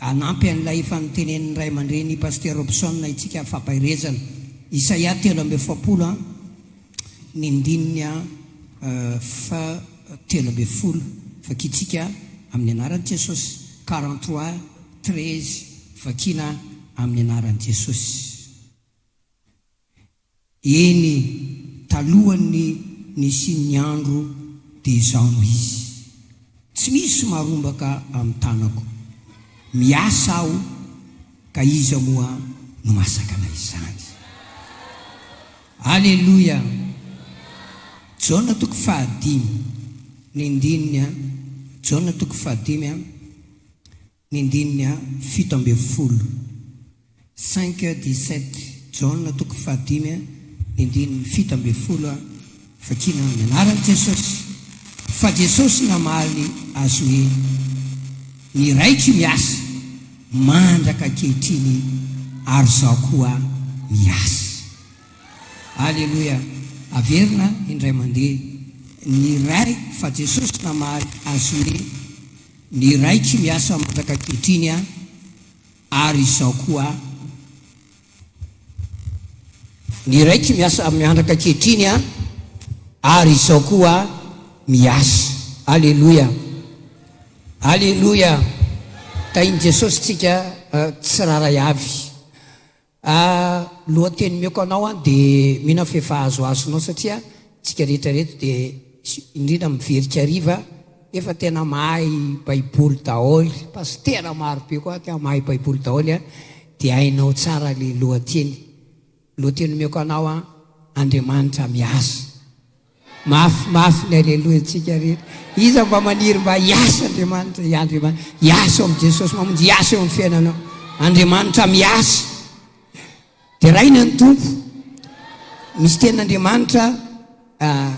Hanampy an'ilay efa notenenin'ny ray aman-dreny i Pasteur Robson isika fampaherezana. Isaia telo amby efapolo an, ny ndininy a fa telo ambin'ny folo, Vakintsika amin'ny anaran'i Jesosy. Quarante trois, treize, Vakiana amin'ny anaran'i Jesosy. Eny, talohan'ny nisian'ny andro dia izaho no izy. Tsy misy marombaka amin'ny tanako. Miasa aho, ka iza moa no mahasakana izany? Aleloia! Jaona toko fahadimy, ny andininy a. Jaona toko fahadimy a. Ny ndininy fito ambin'ny folo, cinq dix sept, Jaona toko fahadimy ny ndininy fito ambin'ny folo, vakiana amin'ny anaran'i Jesosy, fa Jesosy namaly azy hoe, Ny Raiko miasa mandraka ankehitriny ary Izaho koa miasa. Aleloia! Averina indray mandeha ny Ray fa Jesosy namaly azy hoe, Ny iray tsy miasa mandraka ankehitriny an! ary izao koa an! Ny iray tsy miasa miandraka ankehitriny an! ary izao koa miasa! Aleloia! Aleloia! Tahin'i Jesosy tsika tsirairay avy! Ah lohateny omeko anao an de mino aho fa efa azo azonao satria tsika rehetra reto de indrindra miverika hariva efa tena mahay baiboly daholy pastera maro be koa aty an mahay baiboly daholy an de hainao tsara le lohateny lohateny omeko anao an Andriamanitra miasa. Mafy mafy ny Aleloia ntsika rehetra. Iza mba maniry mba hiasa Andriamanitra? Ia Andriamanitra. Hiasa eo amin'i Jesosy Mamonjy, hiasa eo amin'ny fiainanao. Andriamanitra miasa. Deraina ny Tompo. Misy tenin'Andriamanitra, ah,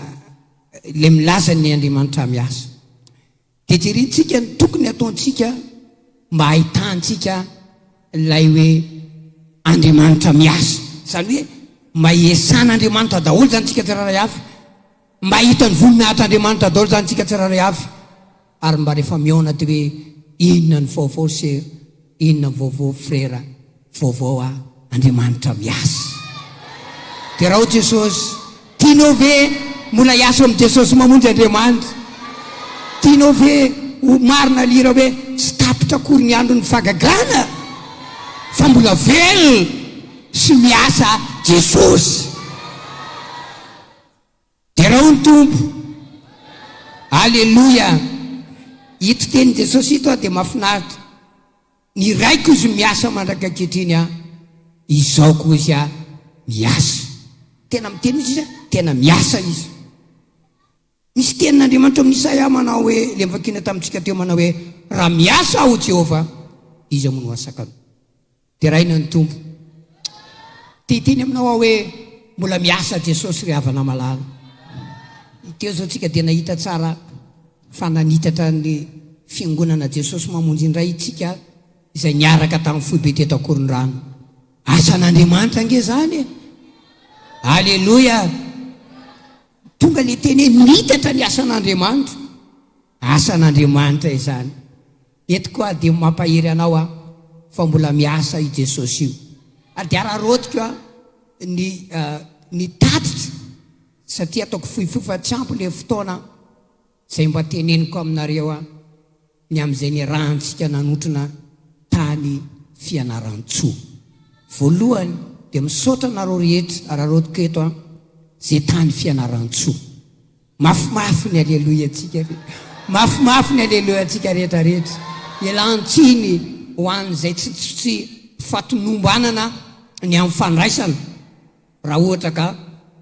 ilay milaza ny Andriamanitra miasa. dia jerentsika ny tokony hataontsika mba hahitantsika ilay hoe Andriamanitra miasa. Izany hoe mba hiesan'Andriamanitra daholo izany tsika tsirairay avy, mba hahita ny voninahitr'Andriamanitra daholo izany tsika tsirairay avy, ary mba rehefa mihaona dia hoe inona ny vaovao sœur, inona ny vaovao frère. Vaovao a! Andriamanitra miasa. Derao Jesosy. Tianao ve mbola hiasa amin'i Jesosy mamonjy Andriamanitra? Tianao ve ho marina lira hoe tsy tapitra akory ny andron'ny fagagana fa mbola velona sy miasa Jesosy? Derao ny Tompo. Aleloia. Ito tenin'i Jesosy ito dia mahafinaritra. Ny raiko izy miasa mandraka ankehitriny an! Izao koa izy an! Miasa! Tena miteny izy an! Tena miasa izy! Misy tenin'Andriamanitra amin'ny Isaia manao hoe, ilay novakiana tamintsika teo manao hoe, Raha miasa aho Jehovah, iza moa no hahasaka anao? Deraina ny Tompo. Te hiteny aminao aho hoe, mbola miasa Jesosy ry havana malala. Teo izao tsika dia nahita tsara. fa nanitatra ny Fiangonana Jesosy Mamonjy indray itsika izay niaraka tamin'ny foibe teto Ankorondrano. Asan'Andriamanitra ange izany e! Aleloia! Tonga ilay teny hoe nitatra ny asan'Andriamanitra. Asan'Andriamanitra izany. Eto koa dia mampahery anao aho fa mbola miasa i Jesosy io. Ary dia araraotiko aho ny, uh, ny tatitra satria ataoko fohifohy fa tsy ampy ilay fotoana izay mba teneniko aminareo ny amin'izay niarahantsika nanotrona tany Fianarantsoa. Voalohany dia misaotra anareo rehetra araraotiko eto an, izay tany Fianarantsoa. Mafimafy ny Aleloiantsika re! Mafimafy ny Aleloiantsika rehetrarehetra! Ilan-tsiny ho an'izay tsy tsy fahatomombanana ny amin'ny fandraisana. Raha ohatra ka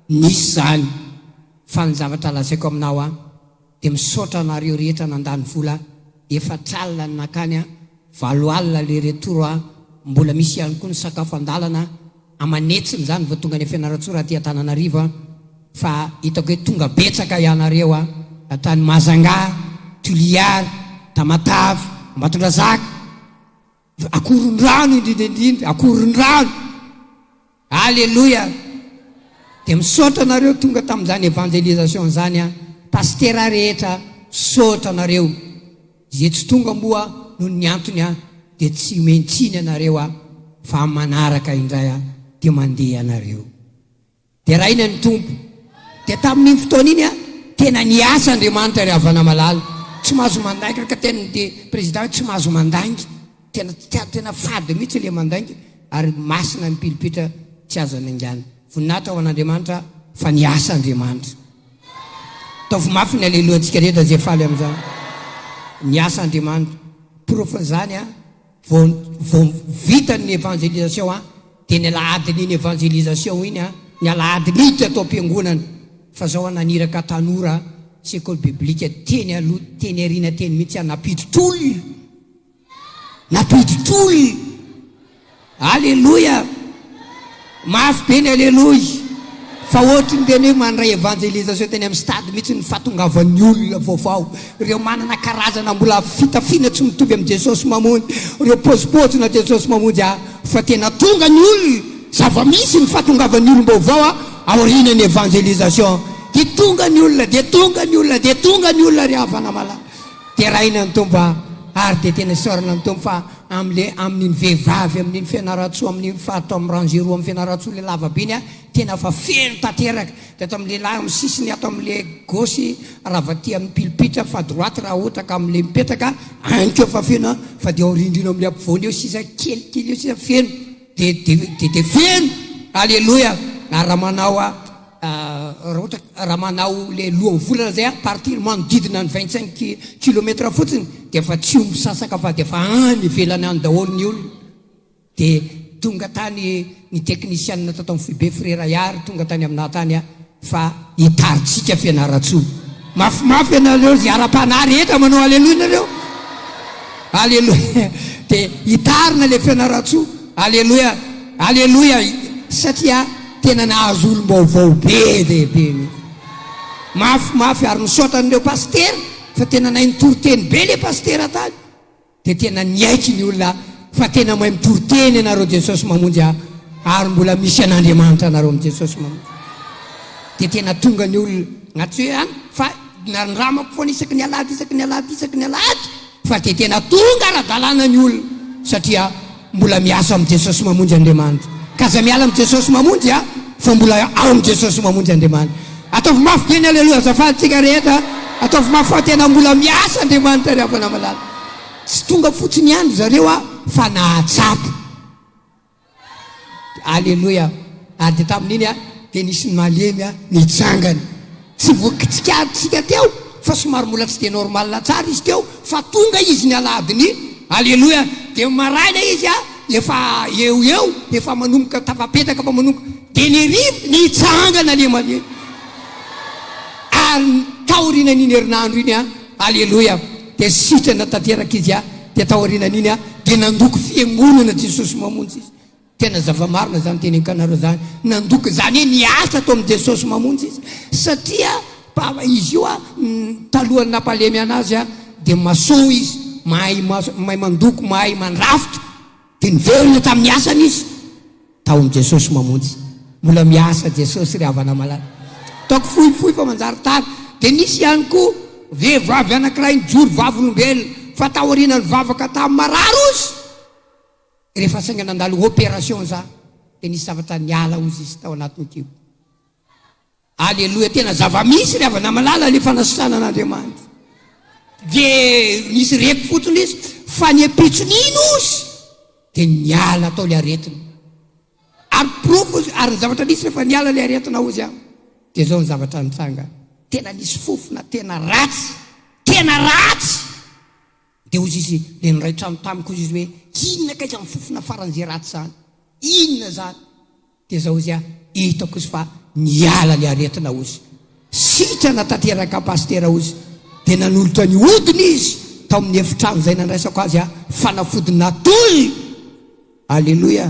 nisy izany fa ny zavatra lazaiko aminao an, dia misaotra anareo rehetra nandany vola efatra alina ny nakany an, valo alina le retour an, mbola misy ihany koa ny sakafo andalana aman'hetsiny izany vao tonga any Fianarantsoa raha aty Antananarivo an, fa hitako hoe tonga betsaka ianareo an, tany Mahajanga, Toliary, Tamatave, Ambatondrazaka. Akorondrano indrindra indrindra akorondrano Aleloia Dia misaotra anareo tonga tamin'izany evangelisation izany an Pasitera rehetra misaotra anareo Izay tsy tonga moa noho ny antony an dia tsy omeny tsiny ianareo an Fa amin'ny manaraka indray an dia mandeha ianareo. Deraina ny Tompo. Dia tamin'iny fotoana iny an, tena niasa Andriamanitra ry havana malala. Tsy mahazo mandainga araka ny tenin'ity Président hoe tsy mahazo mandainga. Tena tsy, tena fady mihitsy ilay mandainga ary masina ny pilipitra tsy azo anaingana. Voninahitra ho an'Andriamanitra fa niasa Andriamanitra. Ataovy mafy ny Aleloia antsika rehetra izay faly amin'izany. Niasa Andriamanitra. Porofon'izany an, Vao vao vita ny evangelisation a! Dia ny alahadin' iny evangelisation iny a! Ny alahadin' iny teto am-piangonana fa zao a! Naniraka tanora sekoly biblika teny aloha teny aoriana teny mihitsy aho nampiditra olona! Nampiditra olona! Aleloia! Mafy be ny aleloia fa ohatry ny tena hoe mandray evangelisation teny amin'ny stade mihitsy ny fahatongavan'ny olona vaovao, ireo manana karazana mbola fitafiana tsy mitovy amin'i Jesosy Mamonjy, ireo pozipozina Jesosy Mamonjy ahy fa tena tonga ny olona, zava-misy ny fahatongavan'ny olom-baovao aorianan'ny evangelisation dia tonga ny olona dia tonga ny olona dia tonga ny olona ry havana malala, deraina ny Tompo ary dia tena isaorana ny Tompo fa. amle amininy vehivavy amininy fianaratsoa amininy fato aminy rangé roa aminy fianaratsoa le lavabe iny a tena fa feno tateraka de ato aminy lehilahy aminy sisiny ato amile gauche ravatia aminy pilipitra fa droite raha ohatra ka amile mipetraka any ko efa feno a fa de aoriandriana amle ampovoany eo sisa kelikely eo sisa feno Dia dia feno aleloia ary raha manao a raha ohatra raha manao le lohan'ny volana zay a partir manodidina ny vingt cinq kilomètre fotsiny dia efa tsy ho misasaka fa dia efa any ivelany any daholo ny olona dia tonga tany ny technician tato amin'ny foibe frera Yary tonga tany aminah tany a fa hitarintsika Fianarantsoa mafimafy ianareo zay ara-panahy rehetra manao aleloia nareo aleloia de hitarina le Fianarantsoa aleloia aleloia satria tena nahazo olom-baovao be dia be mihitsy mafimafy ary misaotra an'ireo pasitera fa tena nahay nitoriteny be le pasitera tany Dia tena niaiky ny olona fa tena mahay mitory teny ianareo Jesosy mamonjy ahy ary mbola misy an'Andriamanitra anareo amin'i Jesosy mamonjy ahy dia tena tonga ny olona atsy hoe any fa nanindramako foana isaky ny alahady isaky ny alahady isaky ny alahady fa dia tena tonga ara-dalàna ny olona satria Mbola miasa amin'i Jesosy Mamonjy Andriamanitra ka aza miala amin'i Jesosy Mamonjy a! fa mbola ao amin'i Jesosy Mamonjy Andriamanitra. Ataovy mafy be ny Aleloia azafady tsika rehetra a! Ataovy mafy fa tena mbola miasa Andriamanitra ry havana malala. Tsy tonga fotsiny ihany ry zareo a! fa nahatsapa. Aleloia! ary dia tamin'iny a! dia nisy ny malemy a! nitsangana. Tsy voky tsikaritrisika teo fa somary mbola tsy dia normal tsara izy teo fa tonga izy ny alahadin'ny aleloia dia maraina izy a efa eo eo efa manomboka tafapetaka fa manomboka dia ny rivotra nitsangana le male ary taorinan'iny herinandro iny a aleloia dia sitrana tanteraka izy a dia taorinan'iny a dia nandoko fiangonana jesosy mamonjy izy Tena zava-marina zany tenenkanareo zany nandoka zany hoe niasa tao amin'ny Jesosy mamonjy izy satria izy io talohan'ny nampalemy anazy dia masoa izy mahay mahay mandoko mahay mandrafitra dia niverina tamin'ny asany izy tao amin'ny Jesosy mamonjy mbola miasa Jesosy ry havana malala ataoko fohy fohy fa manjary tara dia nisy ihany koa vehivavy anankiray nijoro vavolombelona fa taoriana nivavaka tamin'ny marary ozy Rehefa sainga nandalo opération za dia nisy zavatra niala hozy izy tao anatiny teo. Aleloia tena zavamisy ry havana malala le fanasitranana Andriamanitra. De nisy reko fotony izy fa ny ampitso nino ozy de niala tao le aretina. Ary profo ozy ary ny zavatra nisy rehefa niala le aretina ozy an. De zao ny zavatra nitranga. Tena nisy fofona tena ratsy. Tena ratsy. Dia hozy izy, dia niray trano tamiko hozy izy hoe, Inona kay zany fofona faran'izay ratsy zany? Inona zany? Dia zao hozy aho, Hitako hozy fa niala le aretina hozy. Sitrana tanteraka Pasitera hozy. Dia nanolotra ny hodiny izy tao amin'ny efitrano izay nandraisako azy aho, fanafody natoy! Aleloia!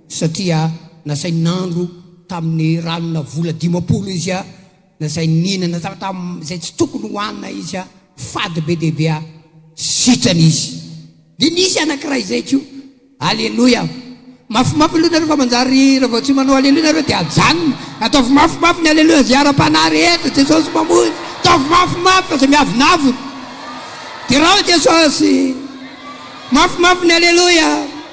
Satria nasainy nandro tamin'ny ranona vola dimampolo izy aho. na izay nihinana zavatra izay tsy tokony ho hanina izy a, fady be dia be a, sitrana izy. Dia nisy anankiray izay ko, aleloia, mafimafy aloha nareo fa manjary ravao tsy manao aleloia nareo dia ajanony, ataovy mafimafy ny aleloia izay ara-panahy rehetra, Jesosy mamonjy, ataovy mafimafy fa izay miavonavona, derao Jesosy, mafimafy ny aleloia.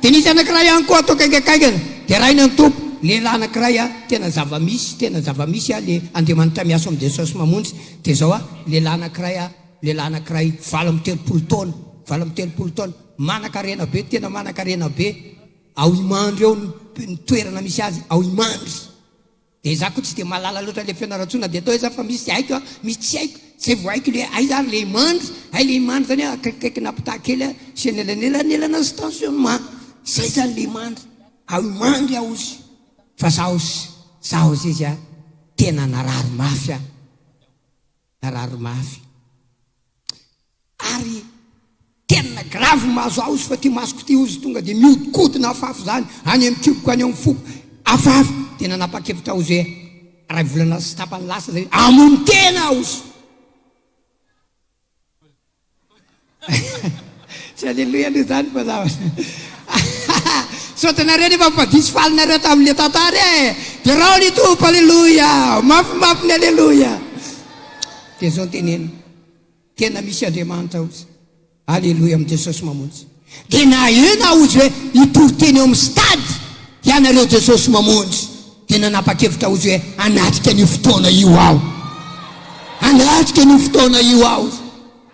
Dia nisy anankiray ihany koa ato akaikakaikany, dia rainy an'i Tompo, lehilahy anankiray a, tena zava-misy, tena zava-misy a, le Andriamanitra miasa ao amin'i Jesosy mamonjy, dia zao a, lehilahy anankiray a, lehilahy anankiray valo amby telopolo taona, valo amby telopolo taona, manan-karena be, tena manan-karena be, ao Imandry ao ny toerana misy azy, ao Imandry. Dia za ko tsy dia mahalala loatra le fianarantsoa na dia atao aiza fa misy haiko a misy tsy haiko zay vo haiko le aiza ary le imandry hay le imandry zany a akaikikaiky na mpitaha kely a sy anelanelanelana sy tension ma zay zany le imandry ao imandry ao ozy fa zaho ozy zaho ozy izy a tena narary mafy a. narary mafy ary tena grave ny mahazo ahy ozy fa ty masoko ty ozy tonga dia miodikodina afafy izany any amin'ny kiboko any amin'ny foko afafy dia nanapa-kevitra aho ozy hoe iray volana sy tapany lasa izay hamono tena aho ozy Tsy aleloia aloha izany fa za Misaotra anareo nefa fa diso faly nareo tamin'ilay tantara e! Derao ny Tompo, aleloia! Mafimafy ny aleloia! Dia izao no teneniny, tena misy Andriamanitra ozy. Aleloia, amin'i Jesosy mamonjy. Dia na eo na ozy hoe hitory teny eo amin'ny stade ianareo Jesosy Mamonjy dia nanapa-kevitra ozy hoe hanatrika an'io fotoana io aho. Hanatrika an'io fotoana io aho ozy.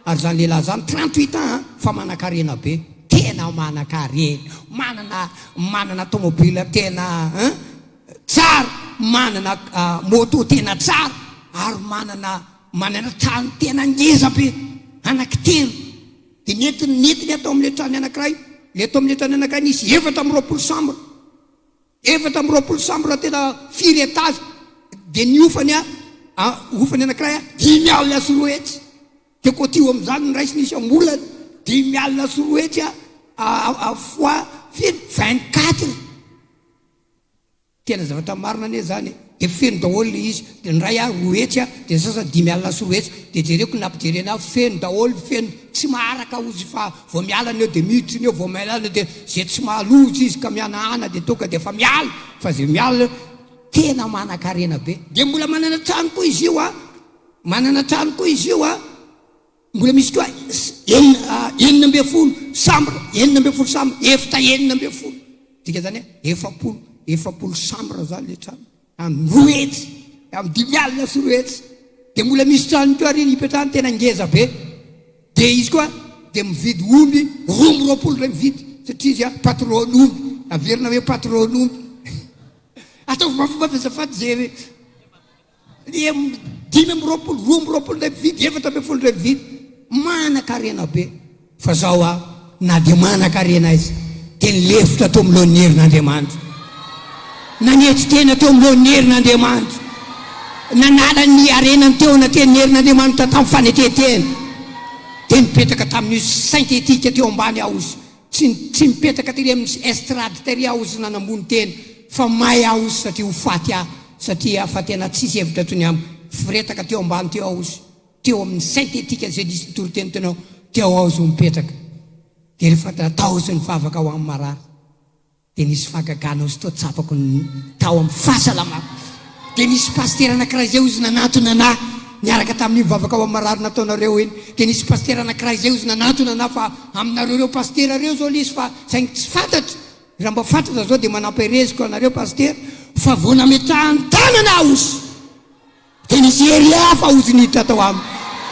Ary izany lehilahy izany trente huit ans an, fa manan-karena be. Tena manan-karena, manana manana tomobile tena an, tsara, manana moto tena tsara, ary manana manana trano tena ngeza be, anaky telo. Dia nentiny nentiny ato amin'ilay trany anankiray. Ilay ato amin'ilay trany anankiray nisy efatra amby roapolo chambre. Efatra amby roapolo chambre tena firy étage. Dia ny hofany a, a hofany anankiray a, dimy alina sy roa hetsy. Dia côtiho amin'izany ny raisiny isam-bolana, dimy alina sy roa hetsy a, a, a, a fois firy? Vingt quatre. Tena zavatra marina anie zany e! Dia feno daholo ilay izy, dia ny iray aho roa hetsy a, dia ny sasany dimy alina sy roa hetsy, dia jereko ny nampijereny ahy, feno daholo, feno, tsy maharaka hozy fa vao miala ny eo dia miditra ny eo, vao miala ny eo dia, izay tsy mahaloja izy ka mihanahana dia tonga dia efa miala, fa izay miala eo, tena manankarena be. Dia mbola manana trano koa izy io a! Manana trano koa izy io a! Mbola misy koa enina ambin'ny folo chambre, enina ambin'ny folo chambre, efitra enina ambin'ny folo, midika izany hoe efapolo, efapolo chambre izany ilay trano, amin'ny roa hetsy, amin'ny dimy alina sy roa hetsy. Dia mbola misy trano koa ary ipetrahany tena ngeza be. Dia izy koa dia mividy omby roa amby roapolo iray mividy, satria izy patron'omby, averina hoe patron'omby. Ataovy mafimafi azafady izay. Dia dimy amby roapolo, roa amby roapolo indray mividy, efatra ambin'ny folo indray mividy. Manan-karena be. Fa zao a, na dia manan-karena aiza, dia nilefitra teo amin'ny lohan'ny herin'Andriamanitra. Nanetry tena teo amin'ny lohan'ny herin'Andriamanitra. Nanala ny harenany teo anatin'ny herin'Andriamanitra tamin'ny fanetren-tena. Dia nipetaka tamin'io saintetika teo ambany aozy Tsy tsy mipetraka tery amin'ny estrade tery aho ozy nanambony tena fa may aho ozy satria ho faty aho satria fa tena tsisy hevitra tsony am firetaka teo ambany teo aho ozy teo amin'ny synthétique izay diso mitoriteny tena teo aho ozy ho mipetraka dia rehefa tao ozy ny vavaka ho amin'ny marary Dia nisy fahagagana ozy tao tsapako ny tao amin'ny fahasalamako. Dia nisy pasitera anankiray izay ozy nanatona anà niaraka tamin'io mivavaka ho amin'ny marary nataonareo iny. Dia nisy pasitera anankiray izay ozy nanatona anà fa aminareo ireo pasitera ireo izao ilay izy fa saingy tsy fantatro. Raha mba fantatra izao dia manam-pahereziko anareo pasitera fa vao nametrahany tanana aho ozy. Dia nisy hery hafa ozy niditra tao aminy.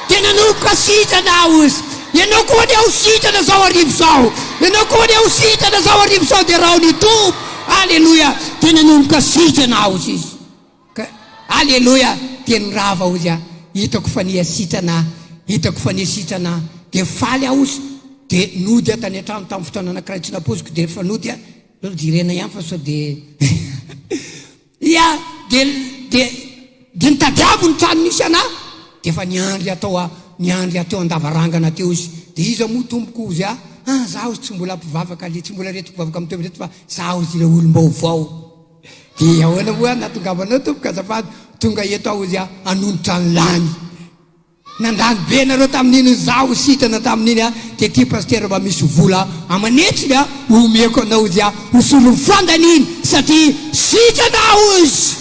Dia nanoko ka sitrana aho ozy. Ianao koa anie ho sitrana zao hariva zao. Ianao koa anie ho sitrana zao hariva zao dia rao ny Tompo. Aleloia. Dia nanomboka sitrana aho ozy izy. Ka, aleloia, dia nirava ozy aho. Hitako fa niha sitrana aho. Hitako fa niha sitrana aho. Dia faly aho ozy. Dia nody aho tany an-trano tamin'ny fotoana anankiray tsy nampoiziko dia rehefa nody aho, aleo jerena ihany fa sao dia. Dia, dia, dia, dia nitadiavo ny trano nisy anah, dia efa niandry atao a, niandry ateo an-davarangana teo izy, dia iza moa tompoko hozy ahy, ah, za hozy tsy mbola mpivavaka le, tsy mbola reto mpivavaka mitoetra reto fa za hozy ilay olom-baovao, dia ahoana moa nahatongavanao tompoko azafady, tonga eto aho hozy aho hanonitra ny lany. Nandany be nareo tamin'iny izaho sitrana tamin'iny a de ty pasitera mba misy vola aman'hetsiny a omeko anao izy a ho solon'ny fondany iny satria sitrana aho ozy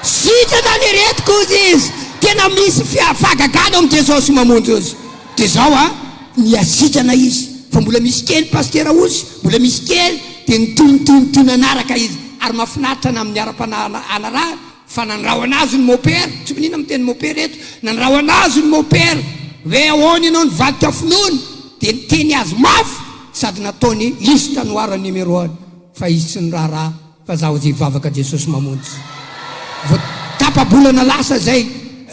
sitrana ny aretiko ozy izy tena misy fia fahagagana ao amin'i Jesosy mamonjy ozy de zao a niasitrana izy fa mbola misy kely pasitera ozy mbola misy kely de nitonotonotono nanaraka izy ary mafinaritra na amin'ny ara-panahy anarahana Fa nandrahona azy ny mopera, tsy miniana miteny mopera eto, nandrahona azy ny mopera hoe ahoana ianao nivadika finoana, dia niteny azy mafy sady nataony liste noir ny numeroany fa izy tsy niraharaha fa za hozy hivavaka Jesosy mamonjy. Vao tapa-bolana lasa izay,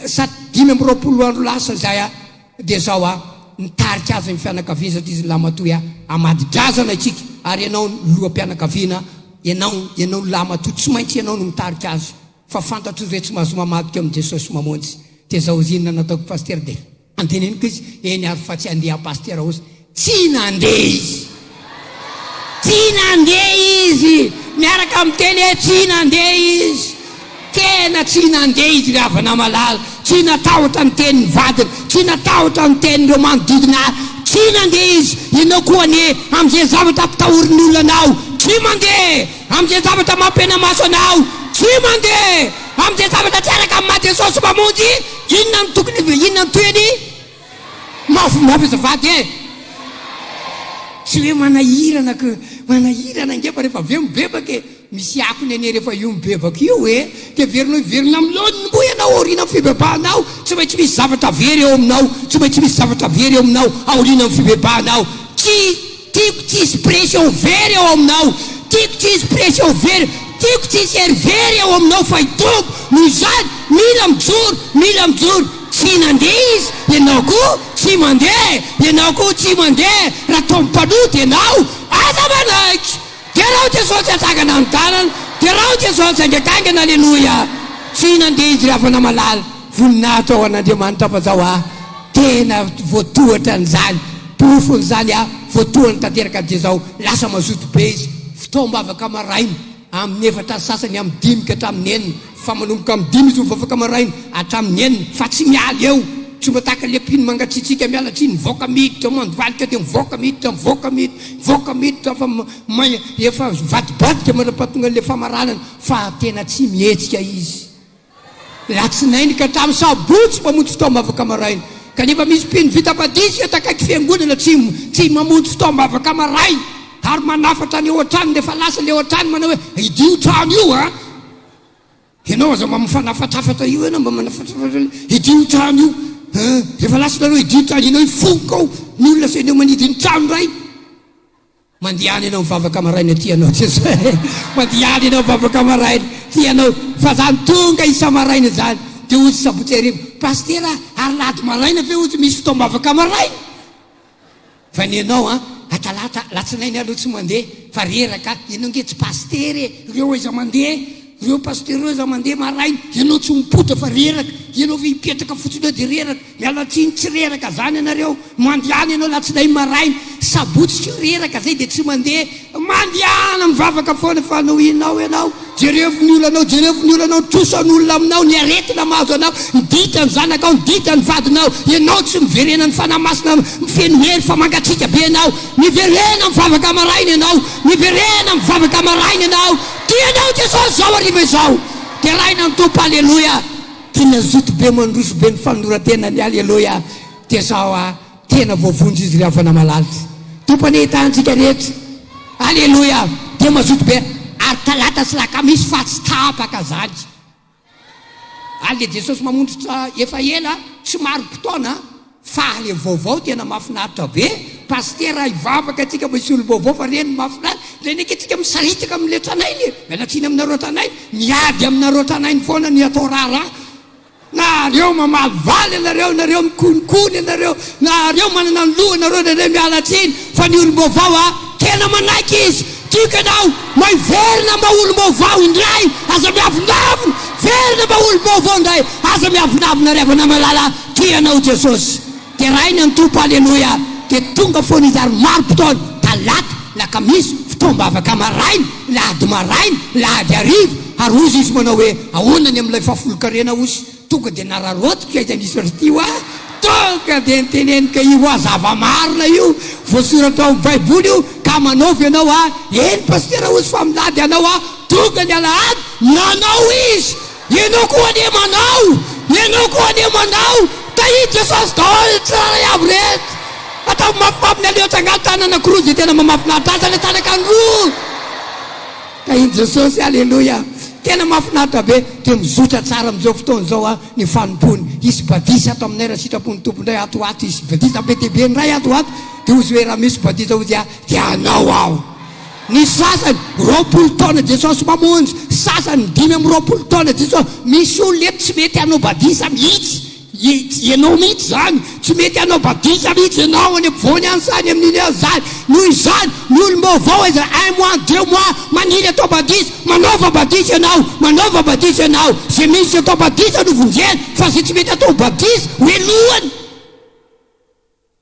sady dimy amby roapolo andro lasa izay, Dia zao a, nitarika azy ny fianakaviany satria izy nilahy matoa a, hamady drazana isika ary ianao no loham-pianakaviana, ianao, ianao ny lahy matoa tsy maintsy ianao no mitarika azy fa fantatro izay tsy mahazo mamadika amin'i Jesosy sy mamonjy, dia zao izy inona nataoko Pasitera dia andinihiko izy, eny ary fa tsy handeha Pasitera osa, Tsy nandeha izy. Tsy nandeha izy. Miaraka miteny hoe tsy nandeha izy. Tena tsy nandeha izy ry havana malala. Tsy natahotra ny tenin'ny vadiny. Tsy natahotra ny tenin'ireo manodidina azy. Tsy nandeha izy. Ianao koa anie, amin'izay zavatra ampitahorin'ny olona anao, tsy mandeha. Amin'izay zavatra mampihenamaso anao, tsy mandeha. Amin'izay zavatra tsy araka ny maha Jesosy Mpamonjy, inona no tokony, inona no tohiny? Mafy mafy azafady eh! Tsy hoe manahirana que manahirana angefa rehefa avy eo mibebaka e! Misy akony anie rehefa io mibebaka io e! Dia heverinao hiverina amin'ny laoniny moa ianao aorianan'ny fibebahanao? Tsy maintsy misy zavatra very eo aminao, tsy maintsy misy zavatra very eo aminao aorianan'ny fibebahanao. Tsy. Tiako tsy hisy pression very ao aminao Tiako tsy hisy pression very Tiako tsy hisy hery very ao aminao Fa i Tompo noho izany Mila mijoro Mila mijoro Tsy nandeha Izy Ianao koa tsy mandeha Ianao koa tsy mandeha Raha Tompo mpanota Ianao Aza manaiky Derao Jesosy antsangana ny tanana Derao Jesosy angegaingana Aleloia Tsy nandeha izy ravana malala Voninahitra ho an'Andriamanitra Fa zao aho tena voatohatra an'izany Porofon'izany aho voatohany tanteraka Dia zao lasa mazoto be izy Fotoam-bavaka maraina Amin'ny efatra sasany amin'ny dimy ka hatramin'ny enina fa manomboka amin'ny dimy izy mivavaka maraina hatramin'ny enina fa tsy miala eo, tsy mba tahaka ilay mpino mangatsiatsiaka miala tsiny mivoaka miditra mandivalika dia mivoaka miditra mivoaka miditra mivoaka miditra fa may efa mivadibadika manam-pahatongan'ilay famaranana fa tena tsy mihetsika izy latsinainy ka hatramin'ny sabotsy mamonjy fotoam-bavaka maraina kanefa misy mpino vita badisa eto akaiky fiangonana tsy tsy mamonjy fotoam-bavaka maraina ary manafatra any eo an-tranony efa lasa ilay eo an-trano manao hoe idio trano io an Ianao aza mba mifanafatafatra io ianao mba manafatafatra hidio trano io. Rehefa lasa ianareo hidio trano ianao hifoka ao ny olona sy eneo manidy ny trano iray. Mandihany ianao mivavaka maraina aty ianao tsy izay. Mandihany ianao mivavaka maraina aty ianao fa zany tonga isa-maraina izany dia hozy sabotsy hariva. Pasitera ary lahady maraina ve hozy misy fotoam-bavaka maraina? Fa ny anao an, atalata, alatsinainy alou tsy mandeha fa reraka, ianao nge tsy pasitera e, reo aiza mandeha, reo pasitera reo aiza mandeha maraina, ianao tsy mipoitra fa reraka, ianao ve hipetraka fotsiny eo de reraka, mialatsiny tsy reraka zany ianareo, mandehana ianao alatsinainy maraina, sabotsy koa reraka zay de tsy mandeha, Mandehana mivavaka foana fa nohinao ianao, jerevo ny olanao, jerevo ny olanao, ny trosan' olona aminao, ny aretina mahazo anao, ny dikan' ny zanakao, ny dikan' ny vadinao, ianao tsy miverena ny Fanahy Masina mifeno hery fa mangatsiaka be ianao, miverena mivavaka maraina ianao, miverena mivavaka maraina ianao, tia anao Jesosy izao hariva izao, deraina ny Tompo aleloia, tia ny hazoto be mandroso be ny fanoloran-tenany aleloia, dia zao a. Tena voavonjy izy ry havana malala. Tompo anie hitahantsika rehetra. Aleloia! Dia mazoto be ary talata sy lakamisy fa tsy tapaka zany. Any le Jesosy mamondrotra efa ela tsy marim-potoana fa le vaovao tena mafinaritra be Pasitera hivavaka atsika mba hisy olom-baovao fa reny mafinaritra le neke tsika misaritaka amle tranainy e! miala tsiny aminareo tranainy miady aminareo tranainy foana ny atao raharaha Nareo mamaly valy anareo, nareo mikonikony anareo, nareo manana ny loha nareo nareo miala tsiny fa ny olombaovao a tena manaiky izy tiako ianao maiverina mba olombaovao indray aza miavonavona verina mba olombaovao indray aza miavonavona ry havana malala tia anao jesosy Deraina ny Tompo Aleloia Dia tonga foana Izy ary marim-potoana Talata, lakamisy, fotoam-bavaka maraina, lahady maraina, lahady hariva Ary hozy Izy manao hoe ahoana ny amin'ilay fahafolon-karena hozy Tonga dia nararaotiko aiza nisy r'ty hoa Tonga dia niteneniko e Io hoa zava-marina io voasoratra ao amin'ny baiboly io Ka manaova ianao hoa Eny Pasitera hozy fa milady ianao hoa Tonga ny alahady nanao izy Ianao koa anie manao! Ianao koa anie manao! Tahia Jesosy daholo tsirairay avy rehetra! Ataovy mafimafy ny aleotsy angano tany anankiroa izay tena mamafinaritra aza ilay tany ankany roa! Tahian'i Jesosy! Aleloia! Tena mafinaritra be! Dia mizotra tsara amin'izao fotoana izao an, ny fanompoany. Hisy badisa ato aminay raha sitrapon'ny Tompo indray ato ho ato. Hisy badisa be dia be indray ato ho ato. Dia hozy hoe raha misy badisa hozy aho dia hanao aho. Ny sasany, roapolo taona Jesosy mamonjy, sasany, dimy amby roapolo taona Jesosy, misy olona eto tsy mety hanao badisa mihitsy, ianao mihitsy izany, tsy mety hanao badisa mihitsy ianao any ampovoany any sa any amin'iny any izany, noho izany, ny olom-baovao aiza, un mois, deux mois, maniry hatao badisa, manaova badisa ianao, manaova badisa ianao, izay misy atao badisa no vonjena, fa izay tsy mety hatao badisa, hoelohany.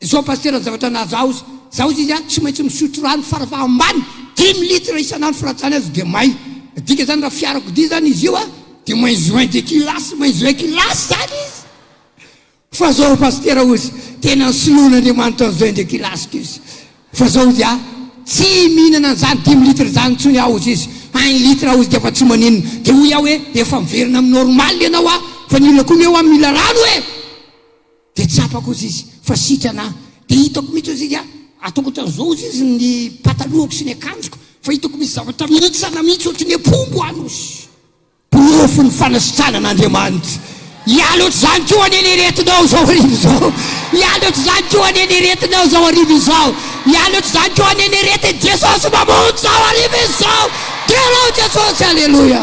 Izao Pasitera ny zavatra nahazo ahy ozy, za ozy izy a tsy maintsy misotro rano fara faha ambany dimy litre isan'andro fa raha tsy zany aza dia may, midika zany raha fiarakodia zany izy io a dia moins un de kilasy, moins un kilasy zany izy fa zao Pasitera ozy tena ny soloan'Andriamanitra an'izao indray kilasy ko izy fa zao ozy a tsy mihinana an'izany dimy litre zany intsony aho ozy izy un litre aho ozy dia efa tsy maninona dia hoy aho hoe efa miverina amin'ny normal ianao a fa ny olona koa anie hoa mila rano e! Dia tsapako ozy izy fa sitrana aho, dia hitako mihitsy ozy izy a, ataoko ohatran'izao ozy izy ny patalohako sy ny akanjoko, fa hitako misy zavatra mihintsana mihitsy ohatry ny apombo any ozy. Porofo ny fanasitranan'Andriamanitra. Hiala ohatr'izany koa anie ny aretinao izao hariva izao. Hiala ohatr'izany koa anie ny aretinao izao hariva izao. Hiala ohatr'izany koa anie ny aretin'i Jesosy Mamonjy izao hariva izao. Derao Jesosy, Aleloia.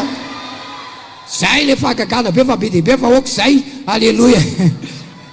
Zay le fahagagana be fa be dia be fa ok zay aleloia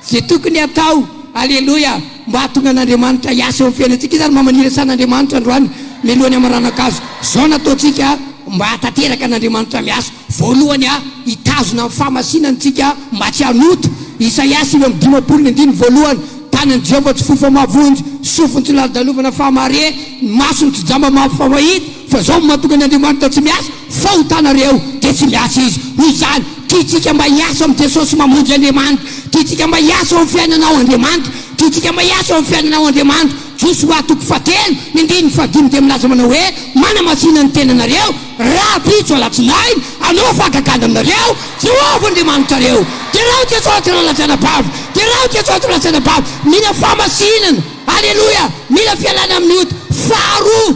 ze tokony atao aleloia mba hahatonga an'Andriamanitra hiasa eo amin'ny fiainantsika izy ary mba maniry asan'Andriamanitra androany mialohan'ny hamaranankazo zao no ataontsika mba hahatanteraka an'Andriamanitra miasa voalohany a hitazona ny fahamasinany tsika mba tsy hanota Isaia sivy amby dimampolo ny andininy voalohany tanan'i Jehovah tsy fohy fa mahavonjy sofiny tsy lalodalovana fahamare ny masony tsy jamba mafy fa mahita Fa zao mahatonga ny Andriamanitra tsy miasa, fahotana re ao dia tsy miasa izy. Hoy izany, tiantsika mba hiasa amin'i Jesosy mamonjy Andriamanitra, tiantsika mba hiasa ao amin'ny fiainana ao Andriamanitra, tiantsika mba hiasa ao amin'ny fiainana ao Andriamanitra. Josoa toko fahatelo, ny andininy fahadimy dia milaza manao hoe, Manamasina ny tenanareo, rahampitso alatsinainy, hanao fahagagana aminareo Jehovah Andriamanitrareo. Derao Jesosy rahalatsana bava, derao Jesosy rahalatsana bava, mila fahamasinana. Aleloia! Mila fialana amin'ny ota. Faharoa.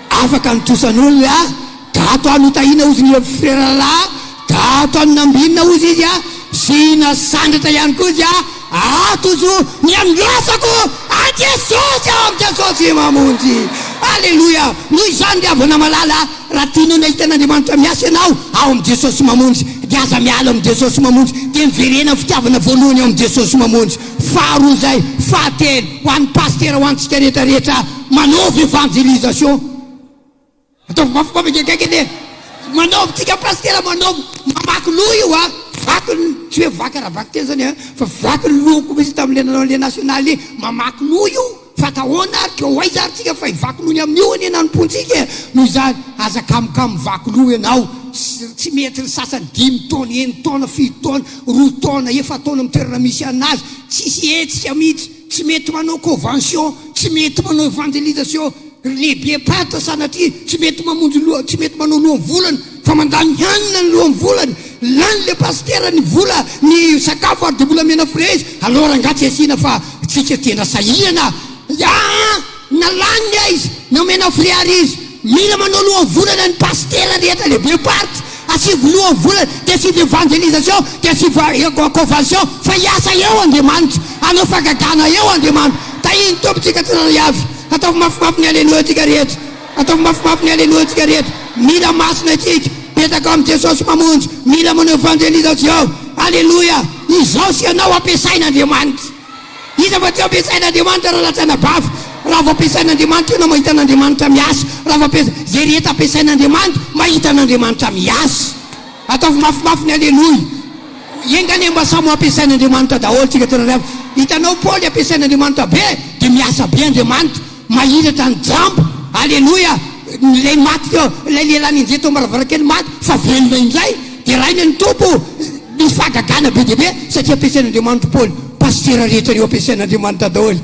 Afaka ny trosan'olona e ah! Gato aho no tahiana ozy ny frera lahy ah! Gato aho no nambinina ozy izy ah! Sy nasandratra ihany koa izy ah! Ato ozy oh! Ny andrasako an'i Jesosy aho, amin'i Jesosy Mamonjy! Aleloia! Noho izany ry havana malala ah! Raha tianao ny hahita an'Andriamanitra miasa ianao ao amin'i Jesosy Mamonjy, dia aza miala amin'i Jesosy Mamonjy, dia miverena amin'ny fitiavana voalohany ao amin'i Jesosy Mamonjy. Faharoa izay, fahatelo, ho an'ny Pasitera, ho antsika rehetra rehetra ah! Manaova evangelisation. Ataovy mafy mafy akaiky anie. Manaova tsika pasitera manaova mamaky loha io a. Vaky ny tsy hoe vaky ara-baky tena zany a fa vaky ny lohako mihitsy tamin'ilay nanao an'ilay national iny. Mamaky loha io fa atao ahoana ary ka ho aiza ary tsika fa hivaky noho ny amin'io anie nanompoantsika e. Noho izany aza kamokamo mivaky loha ianao. Tsy mety ny sasany dimy taona, enitaona, fito taona, roa taona, efa-taona amin'ny toerana misy anazy. Tsisy hetsika mihitsy. Tsy mety manao convention, tsy mety manao evangelisation ry lehibe pata sanatria tsy mety mamonjy loha, tsy mety manao lohan'ny volana fa mandany hanina ny lohan'ny volany, lany le pasitera ny vola ny sakafo ary de mbola omena fraise, alors angaha tsy asiana fa tsika tena sahirana an! Na laniny aiza na omena frais ary izy mila manao lohavolana ny pasitera rehetra lehibe party asivo lohavolana de asivo evangelisation de asivo convention fa hiasa eo Andriamanitra hanao fagagana eo Andriamanitra tahian'ny Tompontsika tsirairay avy ataovy mafimafy ny alléluia tsika rehetra ataovy mafimafy ny alléluia tsika rehetra mila masina isika petraka ao amin'i Jesosy Mamonjy mila manao evangelisation alléluia izao sy ianao ampiasain'Andriamanitra Iza fa tsy ampiasain'Andriamanitra raha lazaina bava? Raha vao ampiasain'Andriamanitra ianao mahita an'Andriamanitra miasa. Raha vao ampiasa, izay rehetra ampiasain'Andriamanitra, mahita an'Andriamanitra miasa. Ataovy mafimafy ny Aleloia. Enga anie mba samy ho ampiasain'Andriamanitra daholo tsika tena ry havana. Hitanao Paoly ampiasain'Andriamanitra be, dia miasa be Andriamanitra. Mahiratra ny jamba. Aleloia! Ilay maty teo, ilay lehilahy nenjehy teo ambaravarankely maty fa velona indray. Deraina ny Tompo. Nisy fahagagana be dia be satria ampiasain'Andriamanitra Paoly. Pasitera rehetra anio ampiasain'Andriamanitra daholo.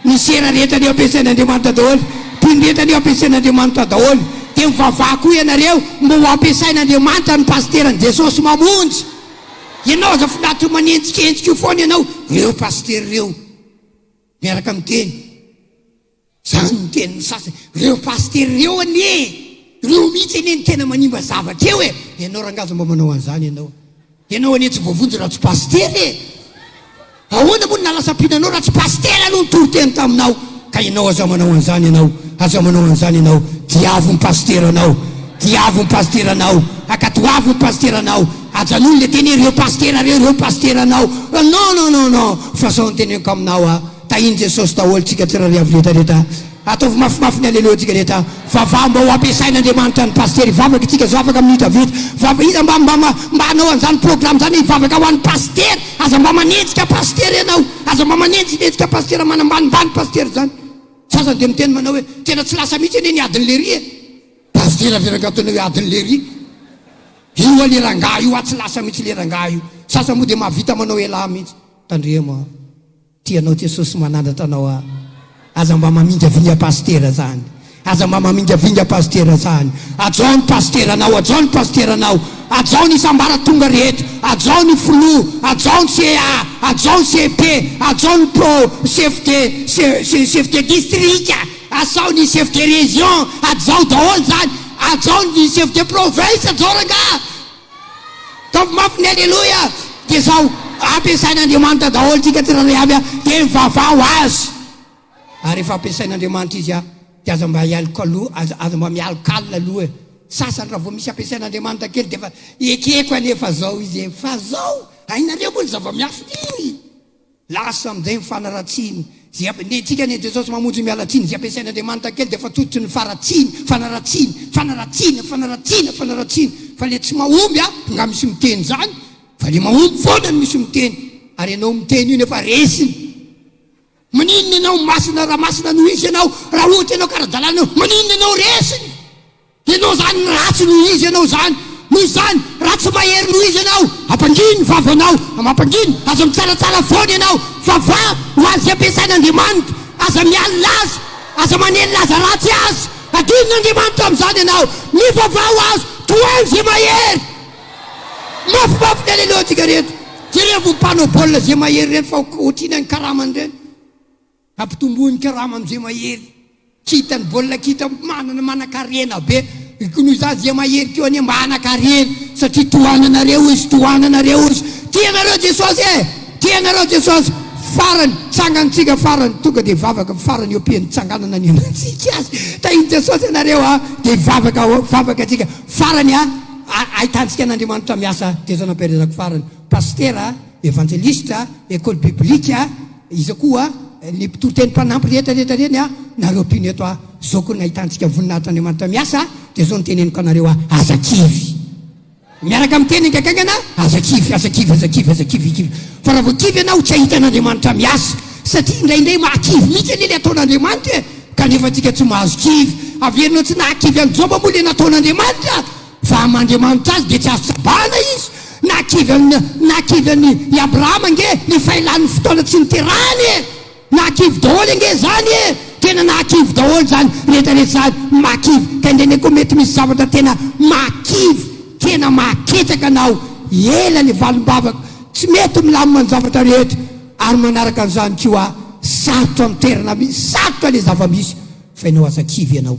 Ny sera rehetra anio ampiasain'Andriamanitra daholo. Mpino rehetra anio ampiasain'Andriamanitra daholo. Dia mivavaha koa ianareo mba ho ampiasain'Andriamanitra ny pasiteran'i Jesosy mamonjy. Ianao aza finaritra manenjika enjika eo foana ianao ireo pasitera ireo. Miaraka miteny zany ny tenin'ny sasany. Reo pasitera reo anie e! Reo mihitsy anie no tena manimba zavatra eo e! Ianao rangahy aza mba manao an'izany ianao. Ianao anie tsy voavonjy raha tsy pasitera e! Ahoana moa no nalasam-pina anao raha tsy pasitera aloha nitory teny taminao? Ka ianao aza manao an'izany ianao, aza manao an'izany ianao. Diavo ny pasiteranao, diavo ny pasiteranao, akatoavo ny pasiteranao, Ajanony le teny hoe reo pasitera reo, reo pasitera anao non non non non fa sao ny teneniko aminao a, tahin Jesosy daholo tsika tsirariavo rehetra rehetra a, ataovy mafimafy ny aleloia tsika rehetra a, vavaho mba ho ampiasain Andriamanitra ny pasitera hivavaka tsika zao afaka minitra vitsy, vava iza mba mba mba hanao anzany programme zany hivavaka ho an'ny pasitera, aza mba manenjika pasitera ianao, aza mba manenjinenjika pasitera manambanimbany pasitera zany, sasany dia miteny manao hoe tena tsy lasa mihitsy anie ny adin'ny lery e, Pasitera ve rangah ataonao hoe adin'i lery? Io anie rangah io atsy lasa mihitsy le rangah io. Sasany moa dia mahavita manao elah mihitsy. Tandremo a! Tia anao Jesosy manandratra anao a! Aza mba mamingavinga pasitera zany! Aza mba mamingavinga pasitera zany! Hajao ny pasitera anao! Hajao ny pasitera anao! Hajao ny isambaratonga rehetra! Hajao ny filoha! Hajao ny CA! Hajao ny CP! Hajao ny pro! Chef de, chef de district! Asao ny chef de région hajao daholo zany, ajao ny chef de province hajao rangah! Ataovy mafy ny Aleloia! Dia zao, ampiasain'Andriamanitra daholo tsika tsirairay avy a! Dia mivavaho Azy! Ary rehefa ampiasain'Andriamanitra izy a! Dia aza mba hialoka loha, aza, aza mba mialoka alina aloha e! Sasany raha vao misy ampiasain'Andriamanitra kely dia efa ekeko anie fa zao izy e! Fa zao! Hainareo moa ny zava-miafina iny! Lasa amin'izay ny fanaratsiany. Izay am, ny antsika ny an'i Jesosy mamonjy ny mialatsiny, izay ampiasain'Andriamanitra kely dia efa tototrin'ny faratsiany, fanaratsiany, fanaratsiana, fanaratsiana, fanaratsiana. Fa ilay tsy mahomby an, nga misy miteny izany? Fa ilay mahomby foana no misy miteny. Ary ianao miteny io nefa resiny. Maninona ianao masina raha masina no izy ianao, raha ohatra ianao kara-dalàna ianao, maninona ianao resiny? Ianao izany ratsy noho izy ianao izany, noho izany ratsy mahery noho izy ianao, ampangino ny vavanao, ampangino, aza mitsaratsara foana ianao, vavaha ho azy ampiasain'Andriamanitra, aza mialona azy, aza manelina aza ratsy azy, adinon'Andriamanitra amin'izany ianao, mivavaha ho azy, tohaino izay mahery. Mafimafy ny Aleloantsika rehetra. Jerevo ny mpanao baolina izay mahery ireny fa otriny any karamany ireny. Ampitomboin'ny karama amin'izay mahery. Tsy hitan'ny baolina kitra manana manankarena be ko noho izany izay mahery ko anie mba hanankarena satria tohananareo izy tohananareo izy tianareo Jesosy e tianareo Jesosy farany tsangantsika farany tonga dia vavaka farany eo am-pian'ny tsanganana ny anantsika azy tahin'i Jesosy ianareo a dia vavaka ao vavaka tsika farany a ahitantsika an'Andriamanitra miasa Jesosy nampiharezako farany pasitera Evangeliste, Ecole biblique, iza koa ny mpitoriteny mpanampy rehetra rehetra ireny a, nareo mpino eto a, zao koa ny nahitantsika voninahitr' Andriamanitra miasa dia zao no teneniko anareo a, aza kivy. Miaraka amin'ny teny haingankaingana, aza kivy, aza kivy, aza kivy, aza kivy, kivy. Fa raha vao kivy ianao tsy hahita an' Andriamanitra miasa. Satria indraindray mahakivy mihitsy anie le ataon' Andriamanitra e! Kanefa antsika tsy mahazo kivy. Averinao tsy nahakivy an'i Joba moa le nataon' Andriamanitra? Fa aman'Andriamanitra azy dia tsy azo tsabahana izy. Na kivy an'i, na kivy an'i, i Abrahama ange efa ela ny fotoana tsy niterahany e! Nahakivy daholo ange izany e! Tena nahakivy daholo izany rehetra rehetra izany. Mahakivy. Ka indray indray koa mety misy zavatra tena mahakivy, tena mahaketraka anao. Ela ny valim-bavaka. Tsy mety milamina ny zavatra rehetra. Ary manaraka an'izany koa, sarotra ny toerana misy, sarotra ilay zava-misy. Fa ianao aza kivy ianao.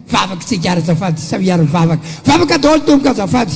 Vavaka isika ary azafady sao hiaro vavaka vavaka daholo tompoko azafady.